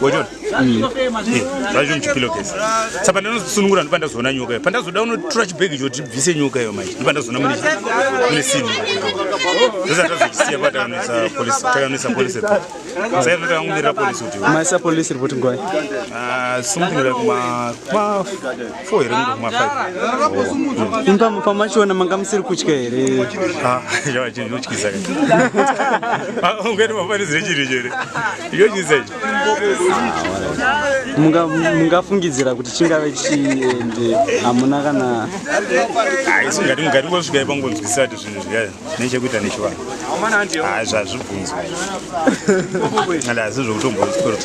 Wachiona? Mm. Eh, zvacho muchipillowcase. Saka ndinosunungura ndipo ndazoona nyoka iyo. Pandazoda unotura chibhegi icho kuti bvise nyoka iyo manje. Ndipo ndazoona mune mune sini. Sasa tazosiya pa takanisa police, takanisa police. Sasa tinoda kungira police kuti. Maisa police report ngwai. Ah, something like ma ma four here munhu mafive imba mupa machiona manga musiri kutya here zvavachindotyisa ungati mafanizire chiri chere yotyisa ichi mungafungidzira kuti chingave chiende hamuna kana haisi ngati ngati ngosvika ipa ngonzwisisa kuti zvinhu zviya nechekuita nechivanhu haa zvazvibvunzwa asi zvokutombonzwa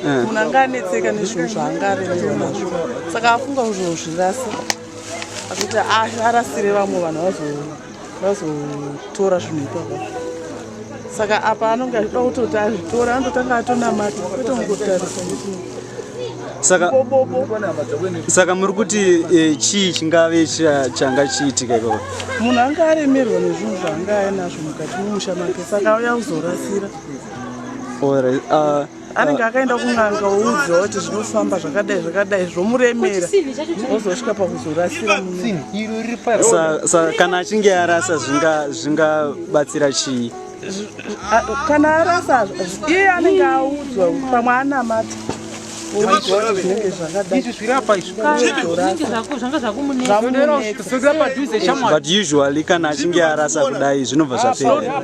eh. munhu anga anetseka nezvinhu zvaanga aremerwa nazvo saka afunga kuzozvirasa akuti ah, arasire vamwe vanhu vazotora zvinhu ipapa saka apa anonge achida kutoti azvitora anototanga atonamata kwete ungotarisa saka saka muri kuti e, chii chingave changa chiitika ikoko munhu anga aremerwa nezvinhu zvaanga ainazvo mukati mumusha make saka auya kuzorasira anenge akaenda kun'anga woudziwa kuti zvinofamba zvakadai zvakadai zvomuremera ozosvika pakuzorasiraakana achinge arasa zvingabatsira chii kana arasa iye anenge audzwa pamwe anamata zvinenge zvakadai but usually kana achinge arasa kudai zvinobva zvapera